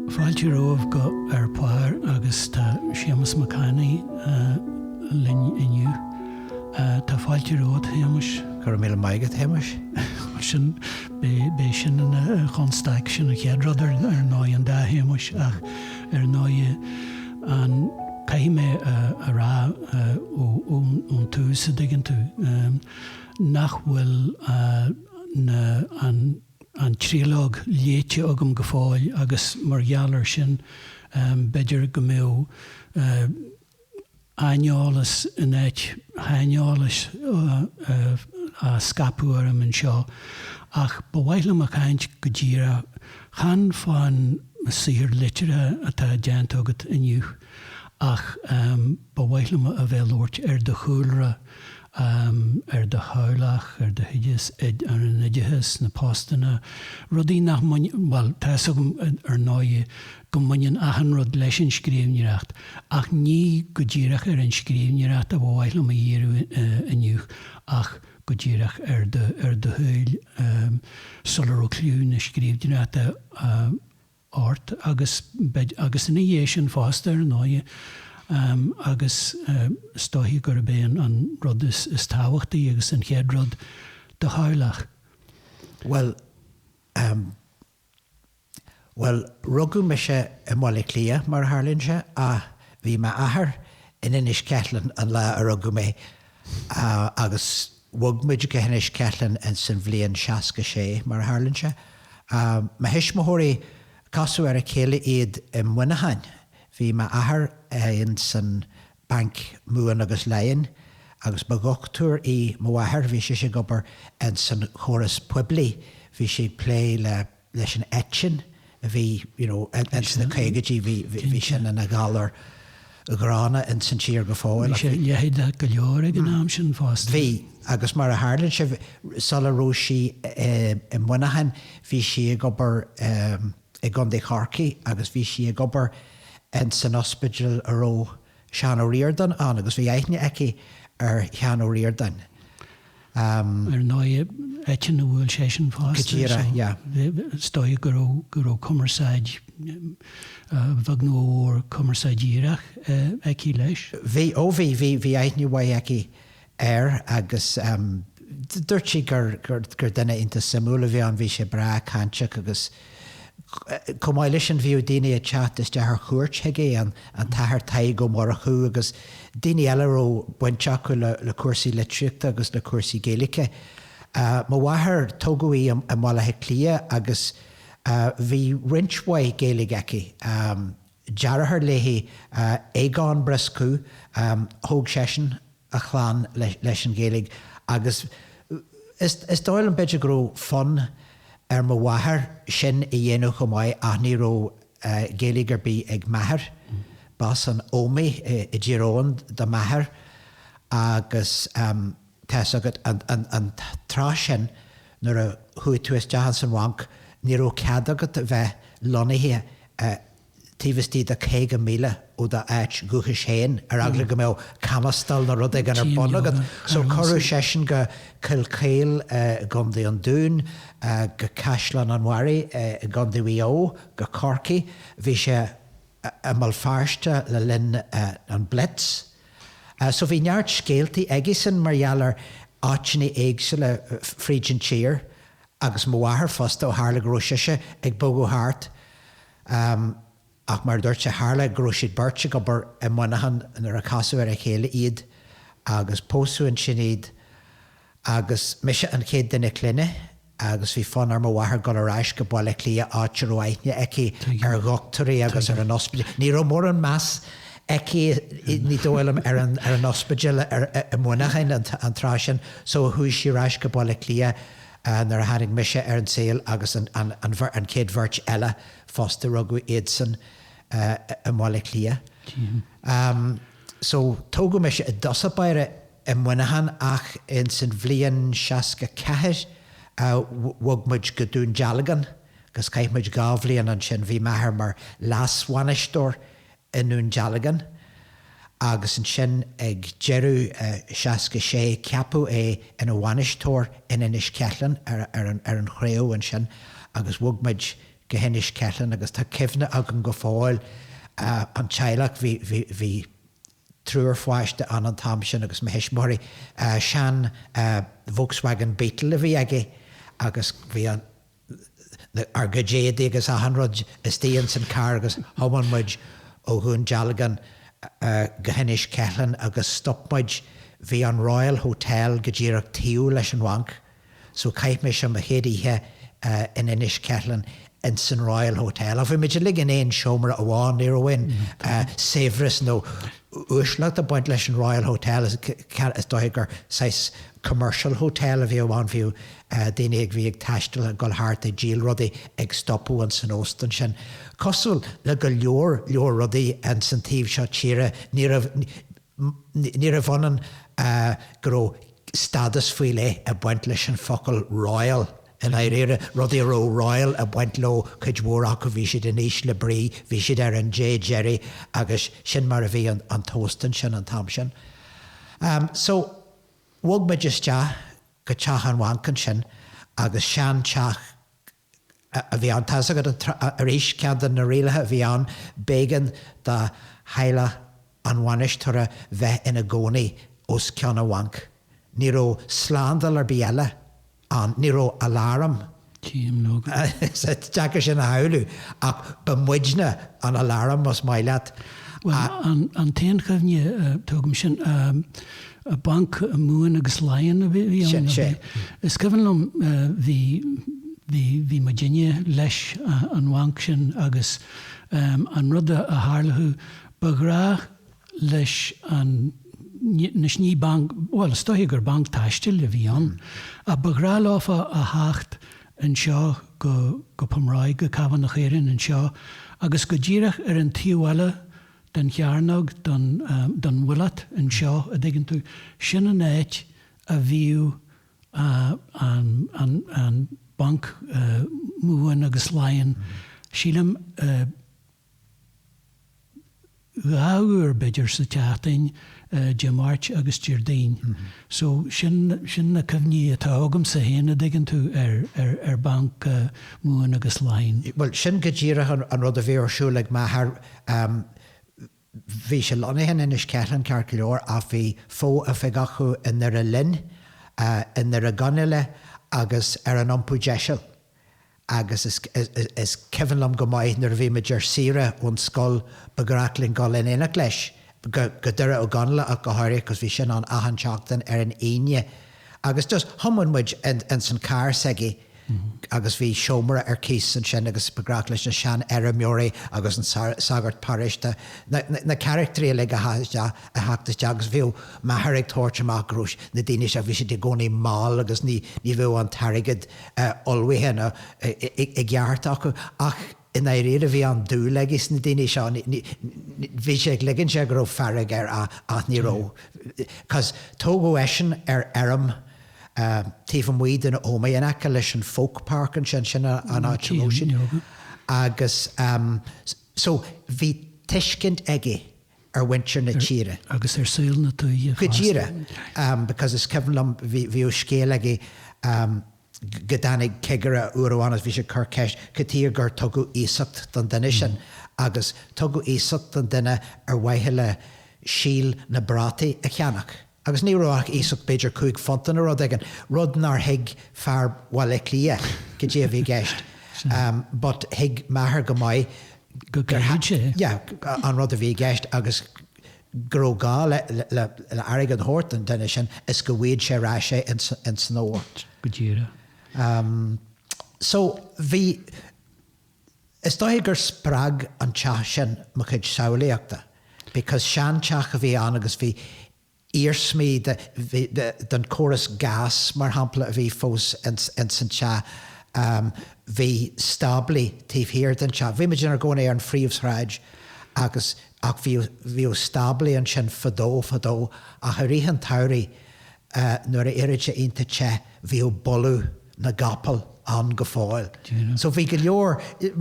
Fáilte romhaibh go Ar Pár agus tá Séamus Mac Annaidh liom inniu. Tá fáilte romhat, Shéamuis. Go raibh míle maith agat, Shéamuis. Mar sin, b'é sin an chonstaic, sin an chéad rud ar ndóigh, an dá Shéamus, ach ar ndóigh, Caithfidh mé a rá ón tús, an dtuigeann tú, nach bhfuil an tríológ léite agam go fóill agus mar gheall air sin, b'fhéidir go mbeadh aineolas in áit shaineolais á scaipeadh orm anseo. Ach ba mhaith liom caint go díreach. Chan fá'n saothar liteartha atá déanta agat inniu, ach ba mhaith liom a bheith ag labhairt ar do chúlra, ar do theaghlach, ar d'oideachas, ar an oideachas, na postanna, rudaí nach mbaineann, bhuel, tá 'fhios agam, ar ndóigh, go mbaineann achan rud leis an scríbhneoireacht, ach ní go díreach ar an scríbhneoireacht a ba mhaith liom díriú inniu, ach. go díreach ar do shaol sula raibh cliú na scríbhneoireachta ort agus agus ina dhiaidh sin fosta ar ndóigh agus is dóiche gurb é an rud is is tábhachtaí agus an chéad rud do theaghlach. Bhuel, Bhuel, rugadh mise i mBaile Átha Cliath, mar a tharlaíonn sé, ach bhí m'athair in Inis Ceithleann an lá a rugadh mé, agus bhog muid go hInis Ceithleann ins an bhliain seasca sé, mar a tharlaíonn sé. Mo thuismitheoirí, casadh ar a chéile iad i Muineachán. Bhí m'athair ins an. Bhanc Mumhan agus Laighean agus ba dhochtúir í mo mháthair. Bhí sise ag obair in san chóras phoiblí. Bhí sí ag plé le, leis an eitinn a bhí you know in sna caogaidí, bhí, bhí sin ina ghalar ghránna in san tír go fóill. Bhí sé leitheadach go leor ag an am sin fosta. Bhí, agus mar a tharlaíonn sé, sula raibh sí i Muineachán, bhí sí ag obair, i gContae Chorcaí agus bhí sí ag obair ins an ospidéal a raibh Seán Ó Ríordáin ann agus bhí aithne aici ar Sheán Ó Ríordáin. Ehm. Ar ndóigh, eitinn a bhuail seisean fosta. Go díreach, yeah. Is dóigh go raibh, go raibh cumarsáid, a bheag nó a mhór, cumarsáid dhíreach aici leis. Bhí, ó bhí, bhí, bhí aithne mhaith aici air agus dúirt sí gur duine iontach suimiúil a bhí ann, bhí sé breá cainteach agus chomh maith leis sin bhíodh daoine ag teacht isteach ar chuairt chuige, an tAthair Tadhg Ó Murchú agus daoine eile a raibh baint acu le cúrsaí litríochta agus le cúrsaí Gaeilge. Mo mháthair, tógadh í i mBaile Átha Cliath agus bhí roinnt mhaith Gaeilge aici. deartháir léi, Aogán Brioscú, thóg seisean a chlann leis an Ghaeilge agus is dóigh liom, b'fhéidir, go raibh fonn ar mo mháthair sin a dhéanamh chomh maith ach ní raibh Gaeilge ar bith ag m'athair. B'as an Ómaigh i dTír Eoghain do m'athair agus. Tá's agat, an tráth sin nuair a chuaigh tú isteach ins an bhanc, ní raibh cead agat a bheith lonnaithe taobh istigh de 50 míle ó do áit dhúchais féin, ar eagla go mbeadh camastaíl nó rud éigin ar bun agat. So cuireadh seisean go Cill Chaoil i gCondae an Dúin, go Caisleán an Bharraigh i gCondae Mhaigh Eo, go Corcaigh, bhí sé i mBéal Feirste le linn an Blitz, So bhí neart scéaltaí aigesan mar gheall ar áiteanna éagsúla fríd an tír agus mo mháthair fosta ó tharla go raibh sise ag bogadh thart. Ach mar a dúirt sé, tharla go raibh siad beirt ag obair i Muineachán nuair a casadh ar a chéile iad agus pósadh ansin iad. agus mise an chéad duine clainne agus bhí fonn ar mo mháthair dul ar ais go Baile Átha Cliath áit a raibh aithne aici ar dhoctúirí agus ar an ospidéal. Ní raibh mórán meas aici ní dóigh liom ar an ospidéal i Muineachán an tráth sin so chuaigh sí ar ais go Baile Átha Cliath nuair a tháinig mise ar an tsaol agus an chéad bheirt eile fosta, rugadh iadsan i mBaile Átha Cliath. So, tógadh mise i dtosach báire i Muineachán ach ins an bhliain seasca ceathair bhog muid go Dún Dealgan agus chaith muid dhá bhliain ansin. Bhí m'athair mar leasbhainisteoir i nDún Dealgan agus ansin ag deireadh seasca sé ceapadh é ina bhainisteoir in Inis Ceithleann ar an Chraobh ansin agus bhog muid go hInis Ceithleann agus tá cuimhne agam go fóill an teaghlach, bhí, bhí, bhí triúr pháiste ann an t-am sin agus mo thuismitheoirí, sean Volkswagen Beetle a bhí aige agus bhí an, ár gcuid éadaí agus achan rud istigh ins an carr agus thiomáin muid ó Dhún Dealgan go hInis Ceithleann agus stop muid, bhí an Royal Hotel go díreach taobh leis an bhanc. So chaith mise mo chéad oíche in Inis Ceithleann in san Royal Hotel. Ó bhí muid uilig in aon seomra amháin, níl aon saibhreas nó uaisleacht ag baint leis an Royal Hotel, is dóiche gur saghas commercial hotel a bhíodh ann, bhíodh daoine a bhí ag taisteal ag dul thart ag díol rudaí ag stopadh in san óstan sin. Cosúil le go leor leor rudaí in san taobh seo tíre, ní raibh, níorbh ionann go raibh, stádas faoi leith ag baint leis an focal royal i ndáiríre, rudaí a raibh royal ag baint leo cuid mhór acu, bhí siad in ísle brí, bhí siad ar an dé deiridh agus sin mar a bhí an t-óstán sin an t-am sin. So, bhog muid isteach go teach an bhainc ansin agus seanteach a bhí ann. Tá's agat arís, ceann de na rialacha a bhí ann, b'éigean do theaghlach an bhainisteora bheith ina gcónaí os cionn an bhainc. Ní raibh slándáil ar bith eile ann, ní raibh aláram, Tchím, Logan. Is deacair sin a shamhlú, ach ba muidne an aláram, más maith leat. Bhuel, an t-aon chuimhne atá agam sin. Banc na Mumhan agus Laighean a bhí ann. Sin é. Is cuimhin liom, bhí, bhí, bhí muidinne leis an bhanc sin agus an rud a tharla, ba ghnách leis an, anois ní banc, bhuel is dóiche gur banc taistil a bhí ann, ach ba ghnách leofa a theacht anseo go, go Pumráigh, go Cabhán na Caorann anseo agus go díreach ar an taobh eile den chearnóg, den, den mhuileat anseo, a' dtuigeann tú, sin an áit a bhíodh an, an, an Banc Mumhan agus Laighean, sílim dhá uair b'fhéidir sa tseachtain, Dé Máirt agus Déardaoin. So, sin, sin na cuimhní atá agamsa féin, a' dtuigeann tú, ar, ar, ar Bhanc Mumhan agus Laighean. Bhuel, sin go díreach an, an rud a bhí ar siúl ag m'athair. Bhí sé lonnaithe in Inis Ceithleann, ceart go leor, ach bhí fo-oifig acu i nDoire Linn, i nDoire Ó gConaíle agus ar an Iompú Deiseal. agus is cuimhin liom go maith nuair a bhí muid ar saoire ón scoil ba ghnách linn dhul in éineacht leis go Doire Ó gConaíle ach go háirithe because bhí sin ann achan tseachtain ar an Aoine agus just thiomáin muid ins an carr s'aige agus bhí seomra ar cíos ansin agus ba ghnách leis na seanfheirmeoirí agus an sagart paróiste na carachtraí uilig a theacht isteach agus bhíodh m'athair ag tabhairt amach go raibh na daoine seo bhí siad i gcónaí mall agus ní bhíodh an t-airgead ullmhaithe nó i gceart acu. Ach i ndáiríre, bhí an-dúil aige sna daoine seo. Bhí sé ag ligean air go raibh fearg air ach ní raibh. Tógadh eisean ar fheirm taobh amuigh den Ómaigh in aice leis an Folk Park ansin, sin an áit a raibh siad. Agus so bhí tuiscint aige. ar mhuintir na tíre. agus ar saol na tuaithe fosta. Go díreach, because is cuimhin liom, bhíodh scéal aige go dtáinig cigire uair amháin agus bhí sé ag cur ceist, cad tuige gur tugadh iasacht don duine sin, agus tugadh iasacht don duine ar mhaithe le síol na bprátaí a cheannach. Agus ní raibh ach iasacht b'fhéidir cúig phunt nó rud éigin, rud nár thuig fear Bhaile Átha Cliath goidé a bhí i gceist, but thuig m'athair go maith gur goidé é. Yeah, an rud a bhí i gceist agus go raibh gá le airgead a thabhairt don duine sin is go bhfuighead sé ar ais é ins an fhómhar. Go díreach. So, bhí. Is dóigh gur spreag an teach sin mo chuid samhlaíochta because seanteach a bhí ann agus bhí iarsmaí den córas gas mar shampla a bhí fós ins an teach. Bhí stáblaí taobh thiar den teach. Bhí muid inár gcónaí ar an phríomhshráid agus, ach bhíodh stáblaí ansin fadó fadó ach i rith an tsamhraidh nuair a d'éireodh sé iontach te bhíodh boladh na gcapall ann go fóill. So bhí go leor,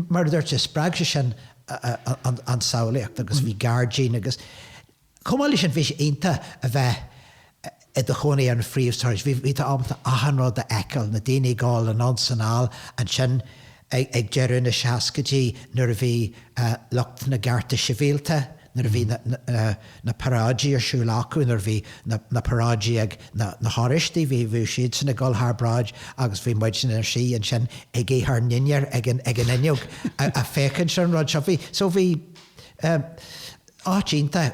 mar a dúirt tú, spreag sé sin an tsamhlaíocht agus bhí gairdín agus chomh maith leis sin bhí sé iontach a bheith i do chónaí ar an phríomhshráid, bhí tú ábalta achan rud a fheiceáil, na daoine ag gabháil anonn 's anall ansin, ag deireadh na seascaidí nuair a bhí lucht na gcearta sibhialta, nuair a bhí na paráidí ar siúl acu, nuair a bhí na paráidí ag na hOráistigh, bhí siadsan ag dul thar bráid agus bhí muidne, inár suí ansin ag ithe ár ndinnéir ag an fhuinneog ag féachaint ar an rud seo. Bhí, so bhí áit iontach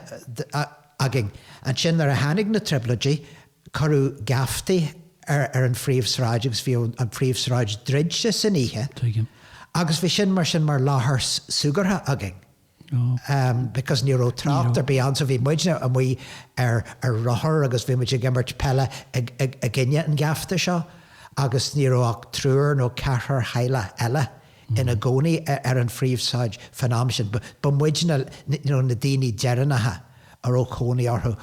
againn. Ansin nuair a tháinig na Trioblóidí, Cuireadh geaftaí ar an phríomhshráid agus bhí an phríomhshráid druidte san oíche agus bhí sin mar sin mar láthair súgartha againn because ní raibh trácht ar bith ann so bhí muidne amuigh ar rothar agus bhí muid ag imirt peile i gcoinne an gheafta seo agus ní raibh ach triúr nó ceathrar teaghlach eile ina gcónaí ar an phríomhshráid fán am sin. Ba muidne na daoine deireanacha a raibh cónaí orthu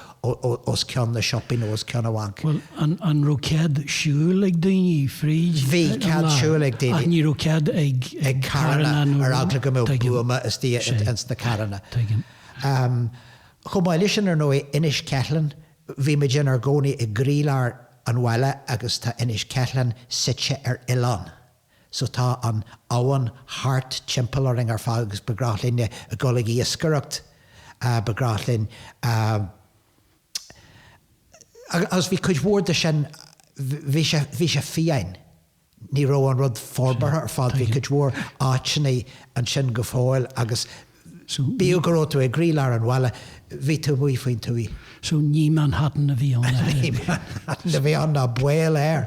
os cionn na siopaí nó os cionn an bhainc. Bhuel, an raibh cead siúil ag daoine fríd an láthair? Bhí cead siúil ag daoine. Ach ní raibh cead ag carranna nó? Ar eagla go mbeadh buama istigh ins na carranna. Tuigim. Chomh maith leis sin, ar ndóigh, Inis Ceithleann, bhí muid inár gcónaí i gcroílár an bhaile agus tá Inis Ceithleann suite ar oileán. so tá an abhainn thart timpeall orainn ar fad agus ba ghnách linne a dhul ag iascaireacht, ba ghnách linn agus bhí cuid mhór de sin, bhí sé, bhí sé fiáin, ní raibh an rud forbartha ar fad, bhí cuid mhór áiteanna ansin go fóill agus. So, Bíodh go raibh tú i gcroílár an bhaile, bhí tú amuigh faoin tuaith. So, ní Manhattan a bhí ann. Ní Manhattan a bhí ann ná baol air.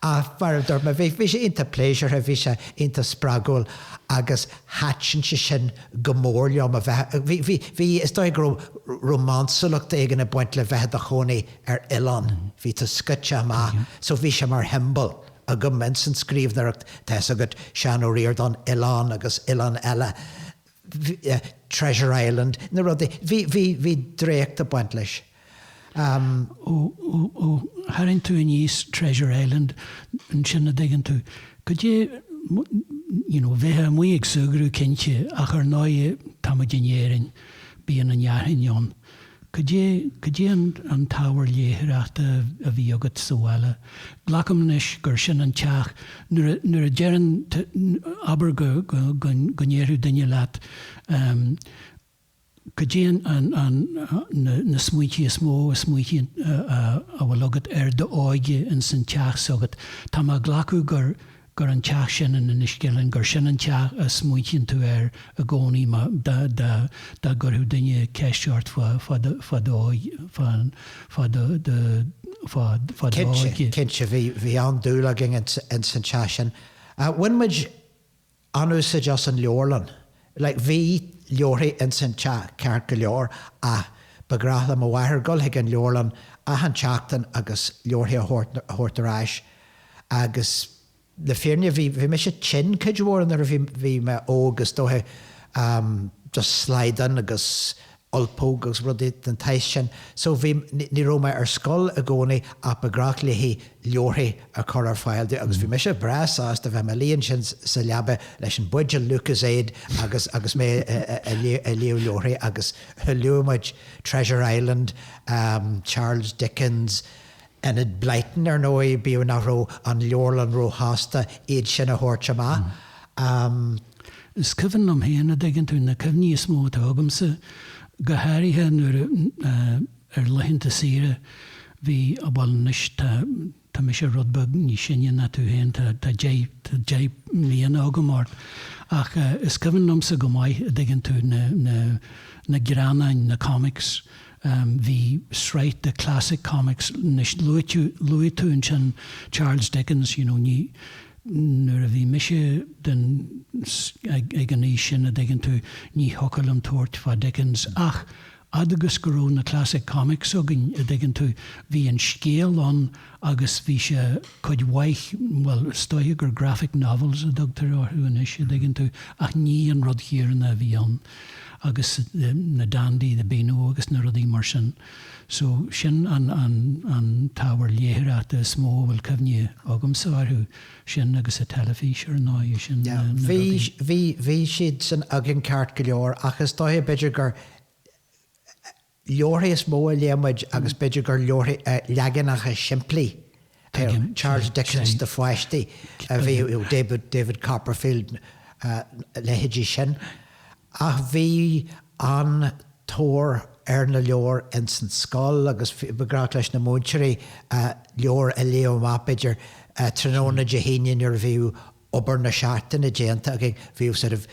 Ach mar a dúirt mé, bhí, bhí sé iontach pléisiúrtha, bhí sé iontach spreagúil agus thaitin sé sin go mór liom a bheith, bhí, bhí, bhí, is dóigh go raibh rómánsúlacht éigin ag baint le bheith i do chónaí ar oileán, bhí tú scoite amach, so bhí sé mar shiombail. agam I mean san scríbhneoireacht tá a fhios agat Seán Ó Ríordáin oileán agus oileán eile Treasure Island na rudaí bhí bhí bhí draíocht ag baint leis ehm. ó ó ó tharraing tú aníos Treasure Island ansin an dtuigeann tú goidé you know bheith amuigh ag súgradh cinnte ach ar ndóigh tá muid in Éirinn bíonn an fhearthainn ann. Cad é an t-ábhar léitheoireachta a bhí agat sa bhaile? Glacaim anois gur sin an teach. Nuair a deireann tú, abair go ndéarfadh duine leat, cad é na smaointí is mó, smaointí a bhfuil agat ar d'óige ins an teach s'agat. Tá mé ag glacadh gur. gur an teach sin in Inis Ceithleann, gur sin an teach a smaoitíonn tú air i gcónaí dá gcuirfeadh duine ceist ort fá d'óige. Cinnte, cinnte, bhí an-dúil againn ins an teach sin. Bhain muid an-úsáid as an leabharlann like Bhí leabharthaí ins an teach ceart go leor ach ba ghnách le mo mháthair dhul chuig an leabharlann achan tseachtain agus leabharthaí a thabhairt ar ais agus le fírinne bhí mise tinn cuid mhór nuair a bhí mé óg is dóiche just slaghdán agus ulpóg agus rudaí den tsaghas sin so bhí, ní raibh mé ar scoil i gcónaí ach ba ghnách léi leabharthaí a chur ar fáil domh agus bhí mise breá sásta bheith i mo luí ansin sa leaba leis an buidéal Lucozade agus, agus mé ag léamh leabharthaí agus léadh muid Treasure Island, Charles Dickens. Enid Blyton, ar ndóigh, bíodh nach raibh an leabharlann róshásta iad sin a thabhairt amach. Is cuimhin liom féin, a' dtuigeann tú, na cuimhní is mó atá agamsa, go háirithe nuair a, ar laethanta saoire, bhí, á bhuel anois tá, tá mise rud beag níos sine ná tú féin, tá, tá deich, tá deich mbliana agam ort, ach is cuimhin liomsa go maith, a' dtuigeann tú, na, na, na greannáin, na comics, Bhí sraith de classic comics, anois luaite, luaigh tú ansin Charles Dickens, you know, ní, nuair a bhí mise den, ag, ag an aois sin, a' dtuigeann tú, ní thiocfadh liom tabhairt fá Dickens ach, a fhad agus go raibh na classic comics againn, a' dtuigeann tú, bhí an scéal ann agus bhí sé, cuid mhaith, bhuel, is dóiche gur graphic novels a tugtar orthu anois, a' dtuigeann tú, ach ní an rud chéanna a bhí ann. agus na dandy, the beano agus na rudaí mar sin. So, sin an, an, an t-ábhar léitheoireachta is mó a bhfuil cuimhne agamsa orthu, sin agus an teilifís, ar ndóigh, sin na, na rudaí. Bhí, bhí, bhí siad san againn ceart go leor ach is dóiche b'fhéidir gur, leabharthaí is mó a léadh muid agus b'fhéidir gur leabharthaí, leaganacha simplí de Charles Dickens do pháistí a bhí, David Copperfield, leithéidí sin. Ach bhí an-tóir ar na leabhair ins an scoil agus ba ghnách leis na múinteoirí leabhair a léamh amach b'fhéidir tráthnóna Dé hAoine nuair a bhíodh obair na seachtaine déanta againn, bhí sort of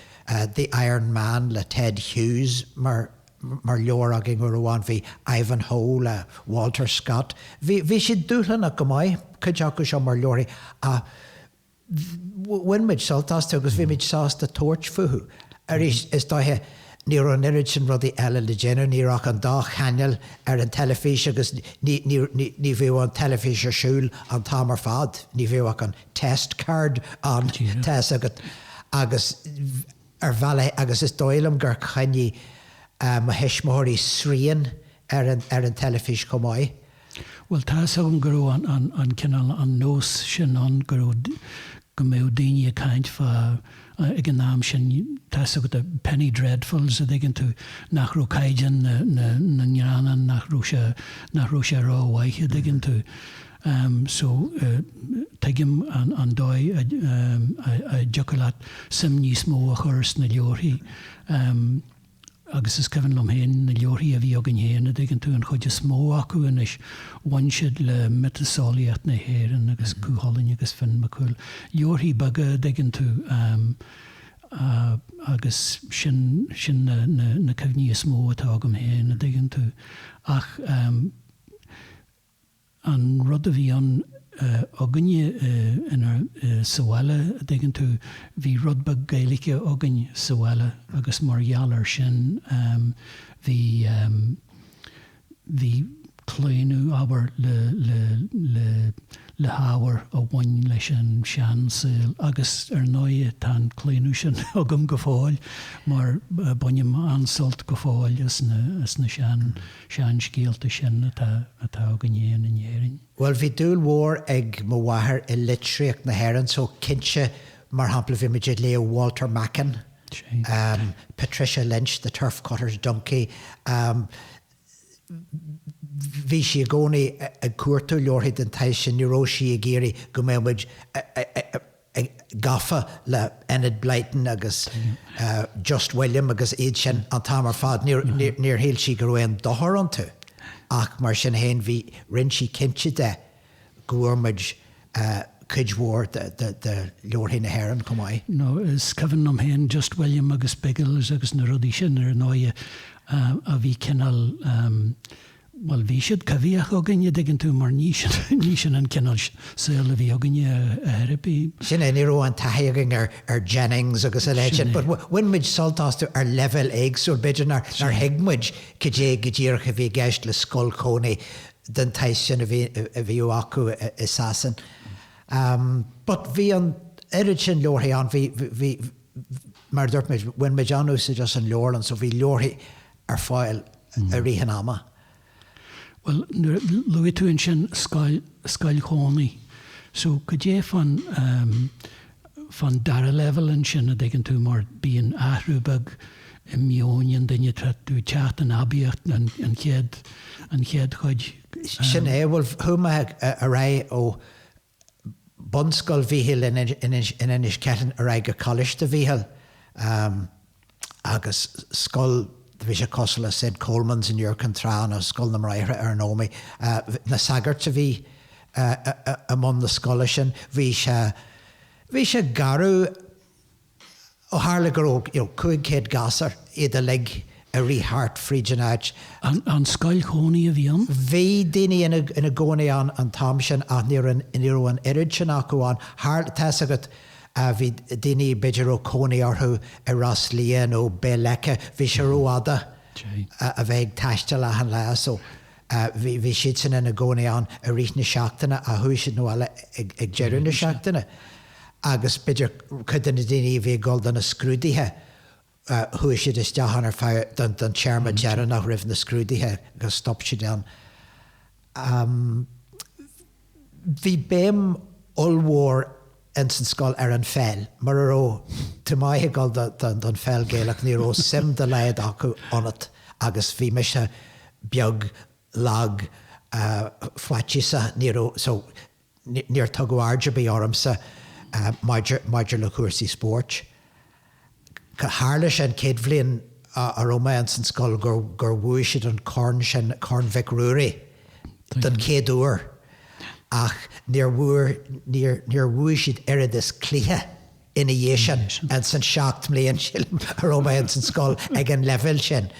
The Iron Man le Ted Hughes mar leabhar againn uair amháin, bhí Ivanhoe le Walter Scott, bhí siad dúshlánach go maith, cuid acu seo mar leabharthaí, ach bhain muid sult astu agus bhí muid sásta tabhairt fúthu. Arís, is dóiche ní raibh an oiread sin rudaí eile le déanamh, ní raibh ach an dá chainéal ar an teilifís agus ní bhíodh an teilifís ar siúl an t-am ar fad, ní bhíodh ach an test card ann tá's agat agus ar bhealach agus is dóigh liom gur choinnigh mo thuismitheoirí srian ar an ar an teilifís chomh maith. Bhuel tá's agam go raibh an an an cineál an nós sin ann go raibh go mbeadh daoine ag caint fá ag an am sin tá's agat penny dreadfuls a' dtuigeann tú nach raibh caighdeán na na na ngreannán nach raibh sé nach raibh sé ró mhaith a' dtuigeann tú. em so tuigim an dóigh a dtiocfadh leat suim níos mó a chur sna leabharthaí em agus is cuimhin liom féin na leabharthaí a bhí againn féin a dtuigeann tú an chuid is mó acu anois bhain siad le miotaseolaíocht na hÉireann agus Cú Chulainn agus Finn Mac Cumhaill leabharthaí beaga a dtuigeann tú em a agus sin sin na na na cuimhní is mó atá agam féin a dtuigeann tú ach em An rud a bhí ann againne sa bhaile, a' dtuigeann tú, bhí rud beag Gaeilge againn sa bhaile agus mar gheall air sin bhí, bhí claonadh, abair, le, le, le, le hábhar a bhain leis an seansaol agus ar ndóigh tá an claonadh sin agam go fóill mar bainim an-sult go fóill as na, as na sean. seanscéalta sin atá againn fhéin in Éirinn. Bhuel, bhí dúil mhór ag mo mháthair i litríocht na hÉireann, so cinnte, mar shampla, bhí muid ag léamh Walter Macken, Patricia Lynch, The Turf Cutter's Donkey, bhí sí i gcónaí ag cuartú leabharthaí den tsaghas sin, ní raibh sí ag iarraidh go mbeadh muid gafa le Enid Blyton agus Just William agus iad sin an t-am ar fad. Níor shíl sí go raibh aon dochar iontu ach mar sin féin bhí rinn sí cinnte de go bhfuair muid cuid mhór de leabharthaí na hÉireann chomh maith. Nó is cuimhin liom féin Just William agus Biggles agus na rudaí sin ar ndóighe a bhí cineál Bhuel, bhí siad coimhthíoch againn, a' dtuigeann tú, mar ní sin, ní sin an cineál saol a bhí againne, a Thiarna. Sin é, ní raibh an taithí againn ar, ar Jennings agus a leithéid, but bhain muid sult astu ar leibhéal éagsúil, b'fhéidir nár, nár thuig muid cad é go díreach a bhí i gceist le scoil chónaí den tsaghas sin a bhí, a bhí acu i Sasain. But bhí an oiread sin leabharthaí ann, bhí, bhí, bhí, mar a dúirt muid, bhain muid an-úsaid as an leabharlann, so bhí leabharthaí ar fáil i rith an ama. Bhuel, nuair a luaigh tú ansin scoil, scoil chónaí, so cad é fán, fán dara leibhéal ansin, a' dtuigeann tú, mar bíonn athrú beag i meon an duine, tá tú ag teacht in aibíocht an, an chéad, an chéad chuid. Sin é, bhuel, chuaigh mé ar aghaidh ó Bunscoil Mhíchíl in Inis Ceithleann ar aghaidh go Coláiste Mhíchíl agus scoil, bhí sé cosúil le Saint Colman's in Iúr Cinn Trá nó Scoil na mBráithre ar an Ómaigh. Na sagairt a bhí i mbun na scoile sin, bhí sé, bhí sé garbh, Ó tharla go raibh 500 gasúr iad uilig ag rith thart fríd an áit, An scoil chónaí a bhí ann? Bhí daoine ina gcónaí ann an t-am sin ach ní raibh an oiread sin acu ann. Tharla, tá 'fhios agat, bhí daoine, b'fhéidir a raibh cónaí orthu i Ros Liath nó Béal Leice, bhí sé rófhada a bheith ag taisteal achan lá so. Bhí siadsan ina gcónaí ann i rith na seachtaine ach chuaigh siad abhaile ag deireadh na seachtaine agus b'fhéidir cuid de na daoine a bhí ag dul do na scrúduithe, chuaigh siad isteach ann ar feadh, don téarma deireanach roimh na scrúduithe agus stop siad ann. Bhí béim ollmhór ins an scoil ar an pheil. Mura raibh tú maith ag dul don pheil Gaelach ní raibh suim dá laghad acu ionat agus bhí mise beag, lag, faitíosach, ní raibh, so níor tugadh aird ar bith ormsa maidir le cúrsaí spóirt. Tharla sé an chéad bhliain a raibh mé insan scoil gur bhuaigh siad an corn sin, Corn Mhic Ruairí, don chéad uair ach níor, níor bhuaigh siad oiread is cluiche ina dhiaidh sin insan seacht mbliain, sílim, a raibh mé insan scoil ag an leibhéal sin.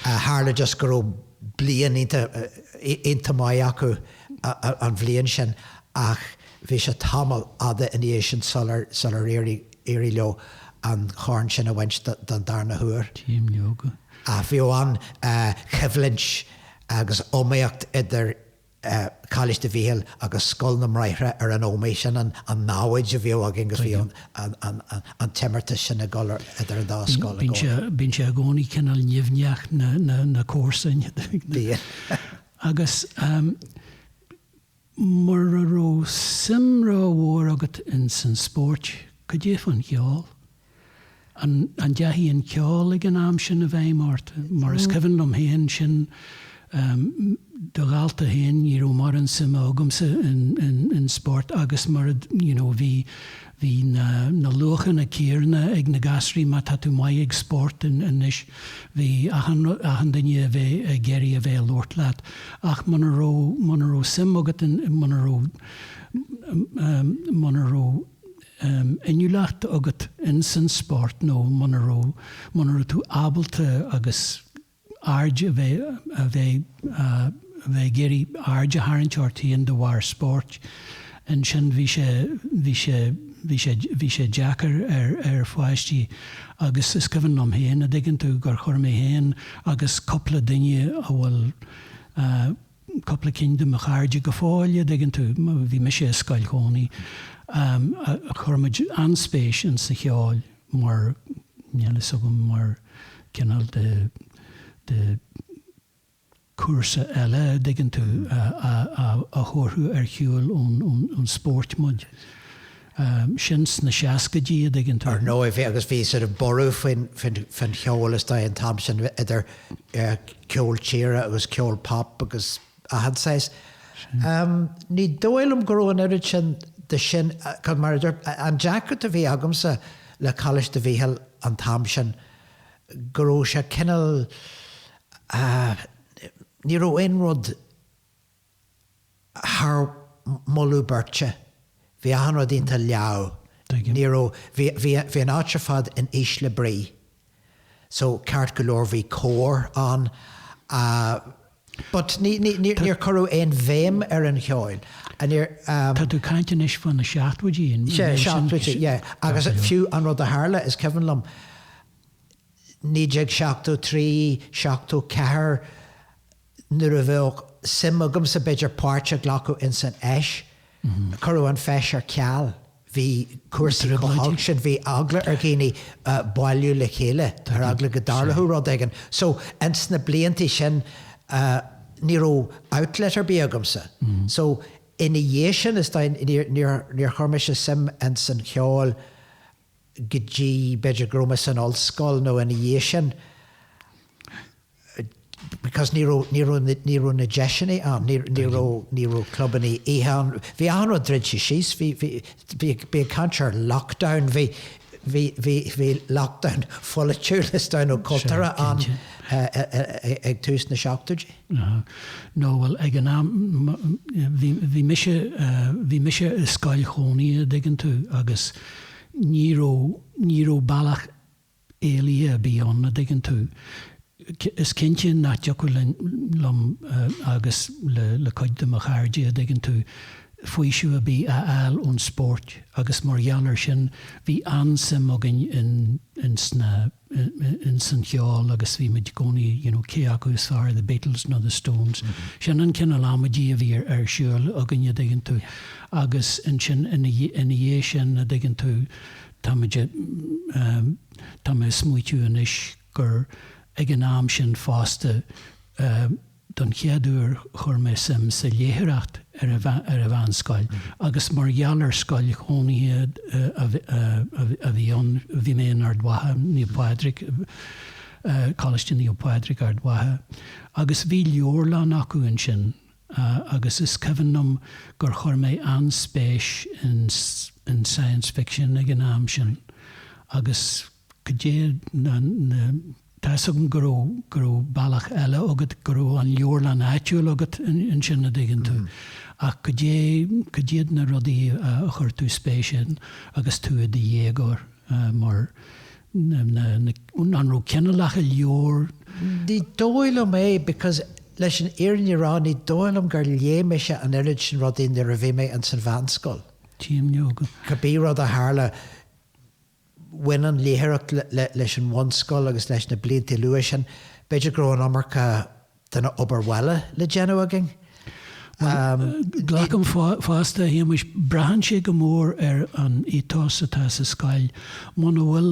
Tharla just go raibh bliain iontach, iontach maith acu an bhliain sin ach bhí sé tamall fhada ina dhiaidh sin sular, sular éirigh, d'éirigh leo an corn sin a bhaint don darna huair. Bhíodh an choimhlint agus iomaíocht idir Coláiste Mhíchíl agus Scoil na mBráithre ar an Ómaigh, sin an namhaid a bhíodh againn agus bhíodh an t-imeartas sin ag dul idir an dá scoil i gcónaí. Bíonn sé i gcónaí cineál nimhneach, na comharsain. Bíonn. Agus Mura raibh suim ró mhór agat ins an spóirt, cad é fán cheol? An ndeachaigh an ceol ag an am sin i bhfeidhm ort? Mar is cuimhin liom féin, ar do dhálta féin, ní raibh mórán suime agamsa in spórt agus mura, you know, bhí, Bhí na luachanna céanna ag na gasraí, má tá tú maith ag spórt anois, bhí achan duine ag bheith ag iarraidh a bheith ag labhairt leat, ach muna raibh, muna raibh suim agat, muna raibh, muna raibh inniúlacht agat in san spórt nó muna raibh, muna raibh tú ábalta agus. aird a bheith a bheith a bheith ag iarraidh aird a tharraingt ort féin de bharr spóirt ansin bhí sé bhí sé bhí sé bhí sé deacair ar ar pháistí agus is cuimhin liom féin a dtuigeann tú gur chuir mé féin agus cúpla duine a bhfuil a cúpla ceann de mo chairde go fóill, a dtuigeann tú, bhí mise i scoil chónaí, chuir muid an-spéis in sa cheol mar, níl a fhios agam, mar cineál de, de chúrsa eile, a dtuigeann tú, a thabharfadh ar shiúl ón, ón, ón spóirt muid. é sin sna seascaidí, a dtuigeann tú. Ar ndóigh, bhí, agus bhí sort of borradh faoin, faoin, faoin cheol, is dóigh, an t-am sin, idir ceol tíre agus ceol pop agus achan saghas. Ní dóigh liom go raibh an oiread sin de sin, 'cause mar a dúirt, an deacracht a bhí agamsa le Coláiste Mhichíl an t-am sin, go raibh sé cineál, ní raibh aon rud, Thar moladh beirte, bhí achan rud iontach leamh. Ní raibh, bhí, bhí, bhí an áit ar fad in ísle brí. So, ceart go leor, bhí cór ann. But ní, ní, ní, níor cuireadh aon bhéim ar an cheoil. Níor, um. Tá tú ag caint anois faoi na seachtóidí, an bhfuil? Sea, seachtóidí, yeah. Agus fiú an rud a tharla, is cuimhin liom, 1973, 74, nuair a bheadh suim agamsa b'fhéidir páirt a ghlacadh ins an fheis, cuireadh an feis ar ceal, bhí cúrsaí chomh holc sin, bhí eagla ar dhaoine bailiú le chéile, ar eagla go dtarlódh rud éigin. So, ins na blianta sin, ní raibh outlet ar bith agamsa. So, ina dhiaidh sin, is dóigh, níor chuir mise suim ins an cheol go dtí, b'fhéidir, go raibh mé san ollscoil nó ina dhiaidh sin because ní raibh, ní raibh, ní raibh na deiseanna ann, ní, ní raibh, ní raibh clubannaí oíche ann. Bhí achan rud druidte síos, bhí, bhí, bí ag, bí ag caint ar lockdown, bhí, bhí, bhí, bhí lockdown pholaitiúil is dóigh nó cultúrtha ann ag tús na seachtóidí. Nó, bhuel, ag an am, bhí, bhí mise, bhí mise i scoil chónaithe, dtuigeann tú, agus ní raibh, ní raibh bealach éalaithe ar bith ann, a' dtuigeann tú. Is cinnte nach dtiocfadh liom, liom agus le, le cuid de mo chairde, a' dtuigeann tú, faoiseamh a' bith a fháil ón spóirt agus mar gheall ar sin bhí an-suim againn in, in sna, in san cheol agus bhí muid i gcónaí you know cé acu is fearr The Beatles nó The Stones. Sin an cineál amaidí a bhí ar ar siúl againn a' dtuigeann tú agus ansin ina ina dhiaidh sin a' dtuigeann tú tá muid a' ehm tá mé a' smaoitiú anois gur ag an am sin fosta eh Don chéad uair chuir mé suim sa léitheoireacht ar an mheánscoil agus mar gheall ar scoil chónaithe a bhí ann, bhí mé in Ard Mhacha, Naomh Pádraig, Coláiste Naomh Pádraig, Ard Mhacha, agus bhí leabharlann acu ansin agus is cuimhin liom gur chuir mé an-spéis in science fiction ag an am sin agus. Goidé na, na, tá's agam go raibh, go raibh bealach eile agat, go raibh an leabharlann áitiúil agat ansin, a dtuigeann tú, ach goidé, cad iad na rudaí a chuir tú spéis ann agus tú i do dhéagóir mar na, na, na, an raibh cineálacha leabhar? Ní dóigh liom é because leis an fhírinne a rá ní dóigh liom gur léigh mise an oiread sin rudaí nuair a bhí mé ins an mheánscoil. Cibé rud a tharla, bhain an léitheoireacht leis an bhunscoil agus leis na bliantaí luatha sin, b'fhéidir go raibh an iomarca den obair bhaile le déanamh againn. Bhuel, glacaim fosta, a Shéamuis, braitheann sé go mór ar an ethos atá sa scoil. Muna bhfuil,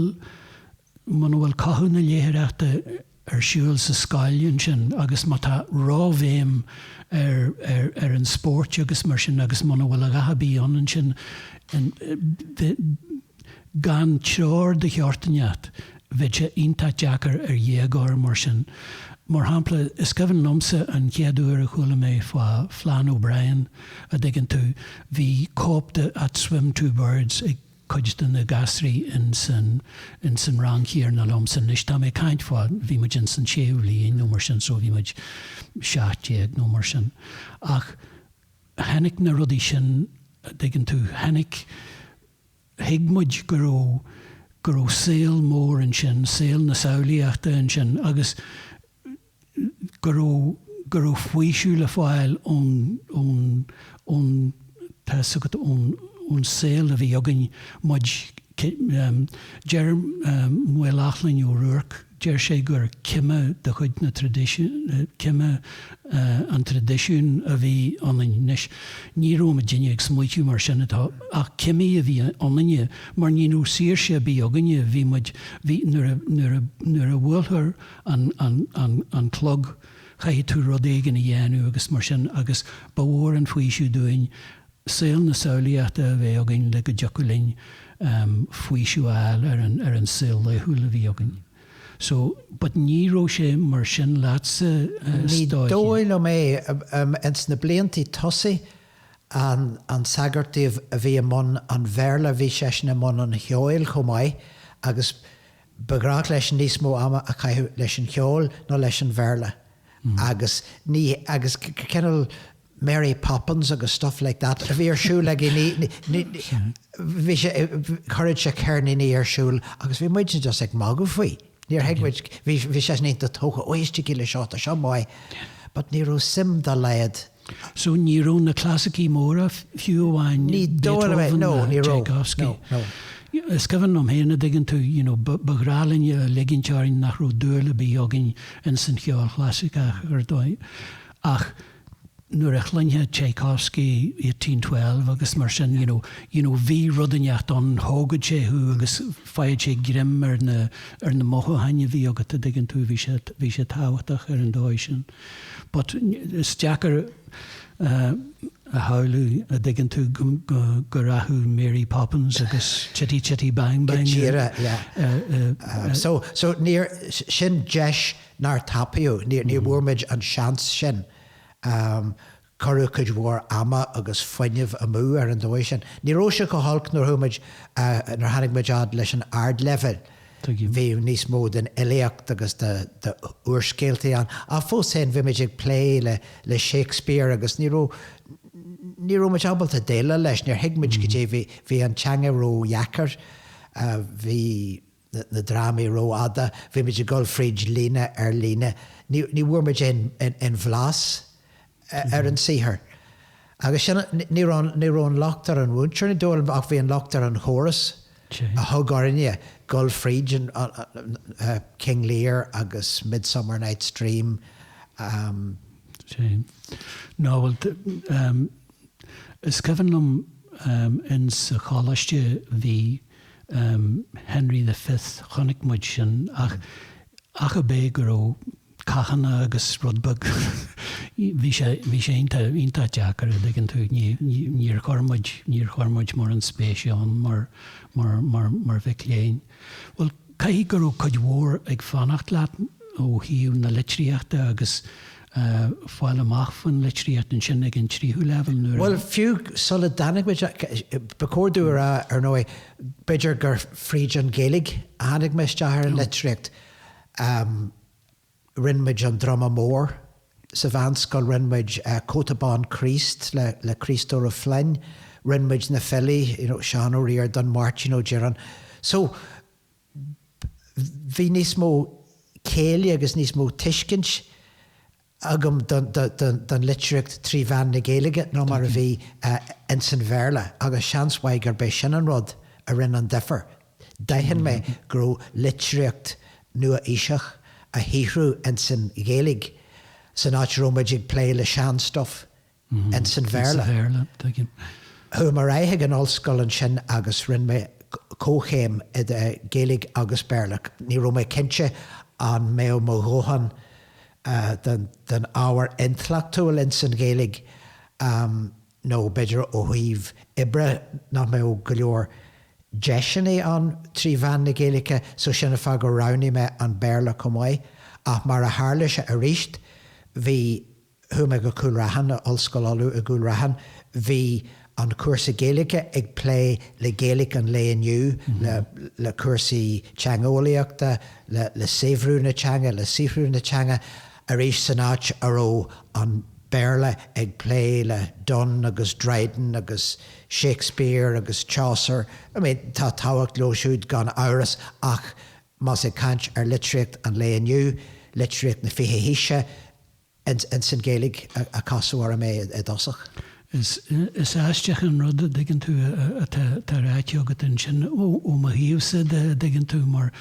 muna bhfuil cothú na léitheoireachta ar siúl sa scoil ansin agus má tá ró-bhéim ar an spórt agus mar sin agus muna bhfuil a dhath ar bith ann ansin gan treoir de dhearcadh ínteacht bheadh sé iontach deacair ar dhéagóir mar sin. Mar shampla, is cuimhin liomsa an chéad uair a chuala mé fá Flann O'Brien, a dtuigeann tú, bhí cóip de At Swim Two Birds ag. cuid de na gasraí ins an rang chéanna liomsa anois, tá mé ag caint fá, bhí muid ins an séú bhliain nó mar sin, so bhí muid seacht déag nó mar sin. Ach tháinig na rudaí sin, a dtuigeann tú, tháinig, thuig muid go raibh, go raibh saol mór ansin, saol na samhlaíochta ansin agus, go raibh, go raibh faoiseamh le fáil ón, ón, ón, tá a fhios agat, ón, ón saol a bhí againn, muid, deir Maolmhaodhóg Ó Ruairc, deir sé gur cime de chuid na traidisiún, cime an traidisiúin a bhí ionainn. Anois, ní raibh muidinne ag smaoitiú mar sin atá, ach cimí a bhí ionainne, mar ní raibh saoirse ar bith againne, bhí muid, bhí, nuair a, nuair a, nuair a bhuailtear, an, an, an, an clog, chaithfidh tú rud éigin a dhéanamh agus mar sin agus ba mhór an faoiseamh dúinn saol na samhlaíochta a bheith againn le go dtiocfadh linn faoiseamh a fháil ar an, ar an saol laethúil a bhí againn. So, but ní raibh sé mar sin leatsa Ní dóigh liom é. Ins na bliantaí tosaigh an, an sagart a bhí i mbun an Bhéarla bhí seisean i mbun an cheoil chomh maith agus Ba ghrách leis níos mó ama a chaitheamh leis an cheol ná leis an Bhéarla agus ní, agus cineál Mary Poppins agus stuff like that a bhí ar siúl aige, ní, ní, bhí sé, chuireadh sé ceirníní ar siúl agus bhí muidne just ag magadh faoi. Níor thuig muid, bhí, bhí seisean iontach tógtha, ó, éistigí le seo, tá seo maith, but ní raibh suim dá laghad, So ní raibh na clasaicí móra, fiú amháin Beethoven nó Tchaikovsky. Is cuimhin liom féin, a dtuigeann tú, you know, ba ghrá linn a ligint orainn nach raibh dúil ar bith againn ins an cheol chlasaiceach ar ndóigh. Ach nuair a chluinfeá Tchaikovsky 1812 agus mar sin, you know, you know, bhí rud inteacht ann, thógfadh sé thú agus gheobhadh sé greim ar na, ar na mothúcháin a bhí agat, a dtuigeann tú, bhí sé, bhí sé tábhachtach ar an dóigh sin. But is deacair a shamhlú, a' dtuigeann tú, go rachadh Mary Poppins agus Chitty Chitty Bang Bang i dtír ar. So sin deis nár tapaíodh, ní bhfuair muid an seans sin. Cuireadh cuid mhór ama agus fuinnimh amú ar an dóigh sin. Ní raibh sé chomh holc nuair tháinig muid fhad leis an ardleibhéal. Bhíodh níos mó den fhilíocht agus d'úrscéaltaí ann, ach fós féin bhí muid ag plé le Shakespeare agus ní raibh ní raibh muid ábalta déileáil leis, níor thuig muid goidé, bhí an teanga ródheacair. Bhí. na drámaí rófhada, bhí muid ag dul fríd líne ar líne, ní bhfuair muid aon bhlas ar an saothar. Agus sin, ní raibh, ní raibh an locht ar an mhúinteoir, ní dóigh liom, ach bhí an locht ar an chóras a thug orainne dul fríd King Lear agus Midsummer Night's Dream. Sea. Nó, bhuel, Is cuimhin liom insa choláiste bhí Henry the Fifth, chonaic muid sin ach ach ab é go raibh cathanna agus rud beag, bhí sé, bhí sé iontach, iontach deacair a' dtuigeann tú, ní, ní, níor chuir muid, níor chuir muid mórán spéise ann mar, mar, mar, mar mhic léinn. Bhuel, caithfidh go raibh cuid mhór ag fanacht leat ó thaobh na litríochta agus fáil amach faoin litríocht ansin ag an tríú leibhéal nuair a. Bhuel, fiú sula dtáinig muid, ba chóir dúinn a rá, ar ndóigh, b'fhéidir gur fríd an Ghaeilge a tháinig mé isteach ar an litríocht. rinn muid An Druma Mór sa mheánscoil, rinn muid Cóta Bán Críost le Críostóir Ó Floinn, rinn muid na filí, you know, Seán Ó Ríordáin, Máirtín Ó Direáin. So, bhí níos mó céille agus níos mó tuiscint agam don litríocht trí mheán na Gaeilge ná mar a bhí ins an Bhéarla agus seans mhaith gurb é sin an rud a rinn an difear D'aithin mé go raibh litríocht nua-aoiseach á shaothrú ins an Ghaeilge san áit a raibh muid ag plé le seanstuif ins an Bhéarla. Chuaigh mé ar aghaidh ag an ollscoil ansin agus rinne mé comhchéim i Gaeilge agus Béarla. Ní raibh mé cinnte an mbeadh mo dhóthain den ábhar intleachtúil ins an Ghaeilge. nó b'fhéidir ó thaobh oibre, nach mbeadh go leor deiseanna ann trí mheán na Gaeilge, so sin an fáth gur roghnaigh mé an Béarla chomh maith. Ach mar a tharla sé arís, bhí, chuaigh mé go Cúil Raithin, Ollscoil Uladh i gCúil Raithin, bhí an cúrsa Gaeilge ag plé le Gaeilge an lae inniu, le, le cúrsaí teangeolaíochta, le, le saibhriú na teanga, le saothrú na teanga. arís san áit a raibh an Béarla ag plé le Donne agus Dryden agus Shakespeare agus Chaucer. I mean, tá tábhacht leo siúd gan amhras ach más ag caint ar litríocht an lae inniu, litríocht na fiche haoise, ins an Ghaeilge a casadh orm é i dtosach. Is, is aisteach an rud, a' dtuigeann tú, atá, atá ráite agat ansin, ó, ó mo thaobhsa de, a' dtuigeann tú, mar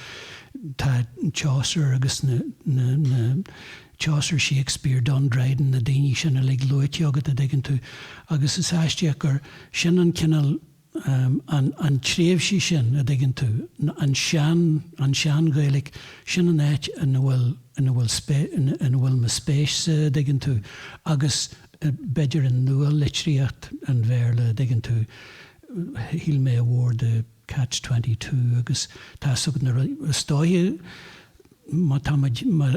tá Chaucer agus na, na, na, Chaucer, Shakespeare, Donne Dryden, na daoine sin uilig luaite agat, a' dtuigeann tú, agus is aisteach gur, sin an cineál, an tréimhse sin, a' dtuigeann tú, an sean, an tsean-Ghaeilic, sin an áit ina bhfuil, ina bhfuil spéis, ina bhfuil mo spéis-sa, a' dtuigeann tú, agus b'fhéidir an nua-litríocht, an Bhéarla, a' dtuigeann tú, shíl mé a mhór de Catch Twenty Two agus tá 's agat na rudaí, is dóiche, má tá muid, má,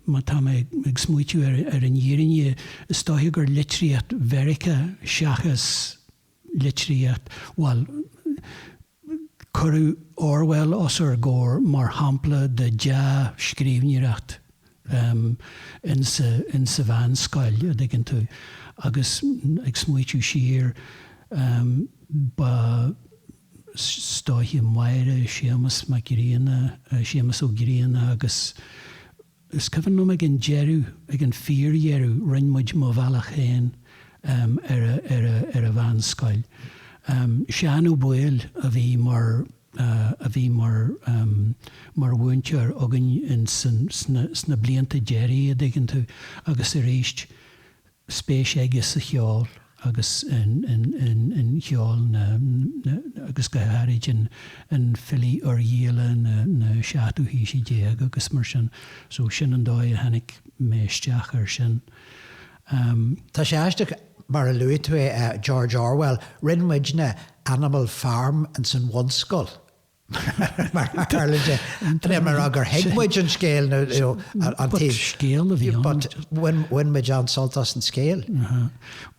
má tá mé ag smaoitiú ar, ar an fhírinne, is dóiche gur litríocht Mheiriceá seachas. litríocht, bhuel, cuireadh Orwell os ár gcomhair mar shampla de dhea-scríbhneoireacht in sa mheánscoil, a' dtuigeann tú, agus ag smaoitiú siar, ba, stoitheadh Máire, Séamas Mac Grianna, Séamas Ó Grianna agus. Is cuimhin liom ag an deireadh, ag an fíordheireadh, rinn muid Mo Bhealach Féin ar an mheánscoil. Seán Ó Baoill a bhí mar a bhí mar mar mhúinteoir againn sna blianta deiridh, a dtuigeann tú, agus arís, spéis aige sa cheol agus sa cheol agus go háirid i bhfilí Oirghialla na seachtú haoise déag agus mar sin. So sin an dóigh a tháinig mé isteach air sin. Tá sé aisteach mar a luaigh tú é, George Orwell, rinne muidne Animal Farm insan bhunscoil. mar tharla de, an é mar fhadh gur thuig muid an scéal nó an taobh. But scéal a bhí ann. But bhain muid an-sult as an scéal. Aha.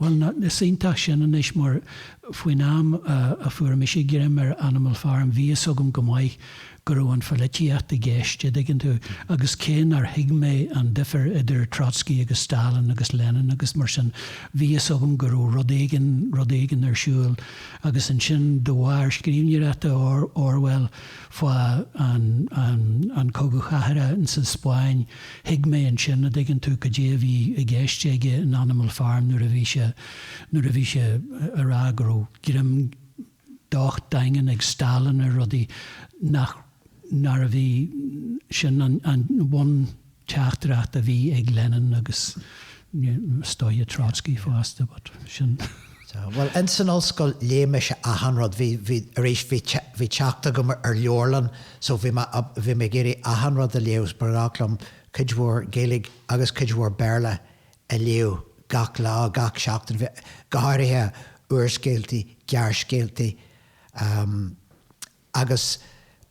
Bhuel, ná, is iontach sin anois mar faoin am a fuair mise greim ar Animal Farm bhí fhios agam go maith go raibh an pholaitíocht i gceist, a dtuigeann tú, agus cé nár thuig mé an difir idir Trotsky agus Stalin agus Lenin agus mar sin, bhí fhios agam go raibh rud éigin, rud éigin ar siúl. Agus ansin de bharr scríbhneoireachta Orwell fá an chogadh chathartha sa Spáinn, thuig mé ansin, a' dtuigeann tú, cad é a bhí i gceist aige in Animal Farm nuair a bhí sé, nuair a bhí sé ag rá go raibh greim docht daingean ag Stalin ar rudaí nach. nárbh í sin an bhun-teachtaireacht a bhí ag Lenin agus, is dóiche, Trotsky fosta, but sin. Bhuel, ins an ollscoil, léigh mise achan rud, bhí, bhí, arís, bhí, bhí teacht agam ar leabharlann, so bhí mé, bhí mé ag iarraidh achan rud a léamh, 's ba ghnách liom cuid mhór Gaeilge agus cuid mhór Béarla a léamh gach lá, gach seachtain, bhí, go háirithe úrscéaltaí, gearrscéaltaí, Agus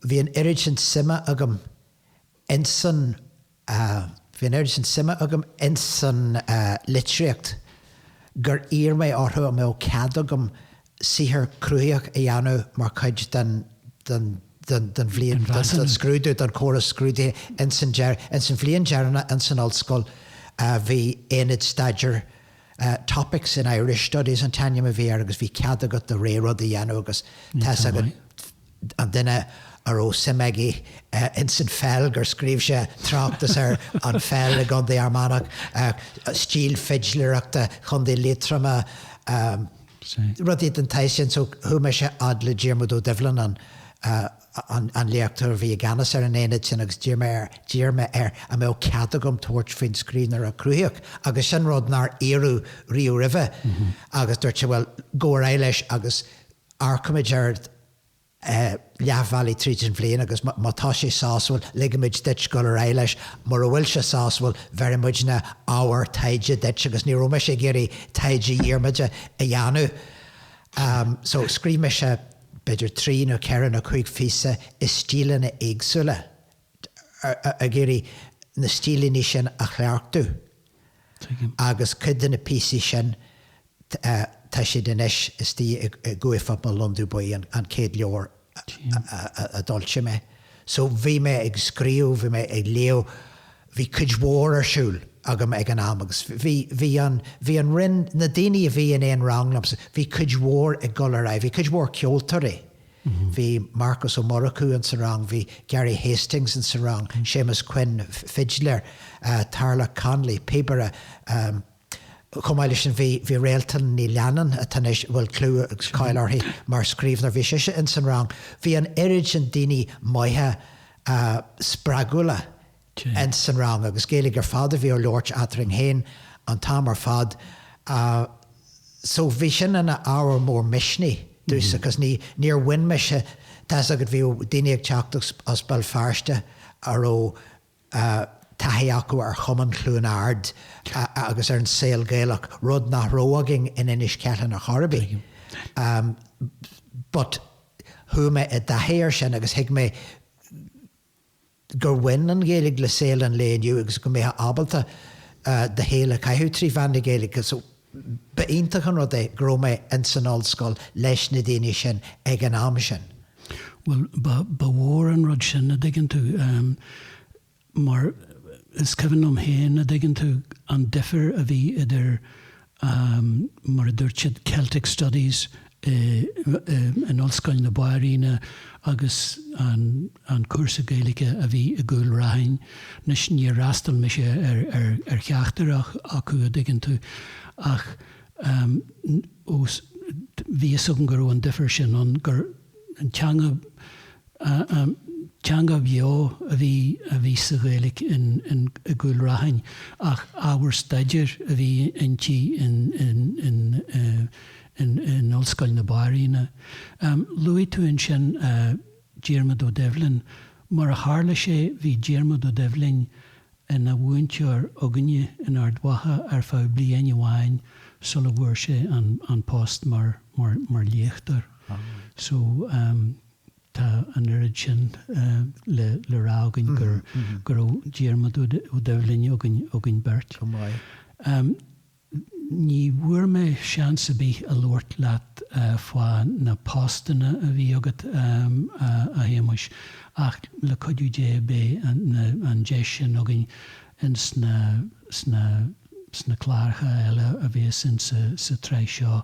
bhí an oiread sin suime agam ins an, bhí an oiread sin suime agam ins an litríocht gur iarr mé orthu an mbeadh cead agam saothar cruthaitheach a dhéanamh mar chuid den, den, den, den bhliain, den scrúdú, den chóras scrúdaithe ins an, ins an bhliain dheireanach ins an ollscoil bhí aonad staidéir, Topics in Irish studies an t-ainm a bhí air agus bhí cead agat do rogha rud a dhéanamh agus tá a fhios agat an duine a raibh suim aige ins an pheil gur scríobh sé tráchtas ar an pheil i gContae Fhear Manach, stíl fidléireachta Chontae Liatroma, rudaí den tsórt sin so chuaigh mise a fhad le Diarmuid Ó Doibhlin an. an léachtóir a bhí i gceannas ar an aonad sin agus d'iarr mé air, d'iarr mé air an mbeadh cead agam tabhairt faoin scríbhneoireacht chruthaitheach agus sin rud nár iarradh riamh roimhe agus dúirt sé bhuel, gabh ar aghaidh leis agus amharcfaimid air leath bhealaigh tríd an bhliain agus má tá sé sásúil, ligfimid duit dul ar aghaidh leis, mura bhfuil sé sásúil, bheirfidh muidne ábhar taighde duit agus ní raibh mise ag iarraidh taighde Dhiarmada a dhéanamh. So scríobh mise. b'fhéidir trí nó ceithre nó cúig phíosa i stíleanna éagsúla, ag iarraidh na stíleanna sin a chleachtú agus cuid de na píosaí sin tá siad anois istigh in Cá bhFuil Mo Londubh Buí, an chéad leabhar a d'fhoilsigh mé. So bhí mé ag scríobh, bhí mé ag léamh, Bhí cuid mhór ar siúl agam ag an am agus bhí, bhí an, bhí an Roinn, na daoine a bhí in aon rang liomsa, bhí cuid mhór ag dul ar aghaidh, bhí cuid mhór ceoltóirí, bhí Marcos Ó Murchú in sa rang, bhí Gary Hastings in sa rang, Séamus Quinn, fidiléir, Tarlach Connolly, píobaire, eh, Chomh maith leis sin, bhí Réaltán Ní Leannáin, atá anois, a bhfuil clú agus cáil uirthi mar scríbhneoir, bhí sise ins an rang. Bhí an oiread sin daoine maithe spreagúla ins an rang agus Gaeilge ar fad a bhí á labhairt eadrainn féin an t-am ar fad so bhí sin ina ábhar mór misnigh dúinn because níor bhain mise, tá 'fhios agat bhí daoine ag teacht as Béal Feirste a raibh. taithí acu ar Chumann Chluain Ard agus ar an saol Gaelach, rud nach raibh againn in Inis Ceithleann ar chor ar bith, but chuaigh mé i dtaithí air sin agus thuig mé gur bhain an Ghaeilge le saol an lae inniu agus go mbeifeá ábalta do shaol a chaitheamh trí mheán na Gaeilge. Ba iontach an rud é go raibh mé in san ollscoil leis na daoine sin ag an am sin. Bhuel, ba, ba mhór an rud sin, a' dtuigeann tú, ehm, mar is cuimhin liom féin, a' dtuigeann tú, an difir a bhí idir, ehm, mar a dúirt siad, Celtic Studies i, i, in Ollscoil na Banríona agus an, an cúrsa Gaeilge a bhí i gCúil Raithin, anois níor fhreastail mise ar cheachtar acu, a' dtuigeann tú, ach bhí 'fhios agam go raibh an difear sin ann, gur teanga, teanga bheo a bhí, a bhí sa Ghaeilge in, in, i gCúil Raithin ach ábhar staidéir a bhí inti in, in, in, in, in Ollscoil na Banríona. Luaigh tú ansin. Diarmaid Ó Doibhlin. Mar a tharla sé, bhí Diarmaid Ó Doibhlin ina mhúinteoir againne in Ard Mhacha ar feadh bliain amháin sula bhfuair sé an post mar léachtóir. So, tá an oiread sin le rá againn go raibh Diarmaid Ó Doibhlin againn beirt. Go maith. Ní bhfuair mé seans ar bith a labhairt leat fá na postanna a bhí agat, a Shéamuis, ach le cuidiú Dé beidh an deis sin againn ins na cláracha eile a bhéas insa tsraith seo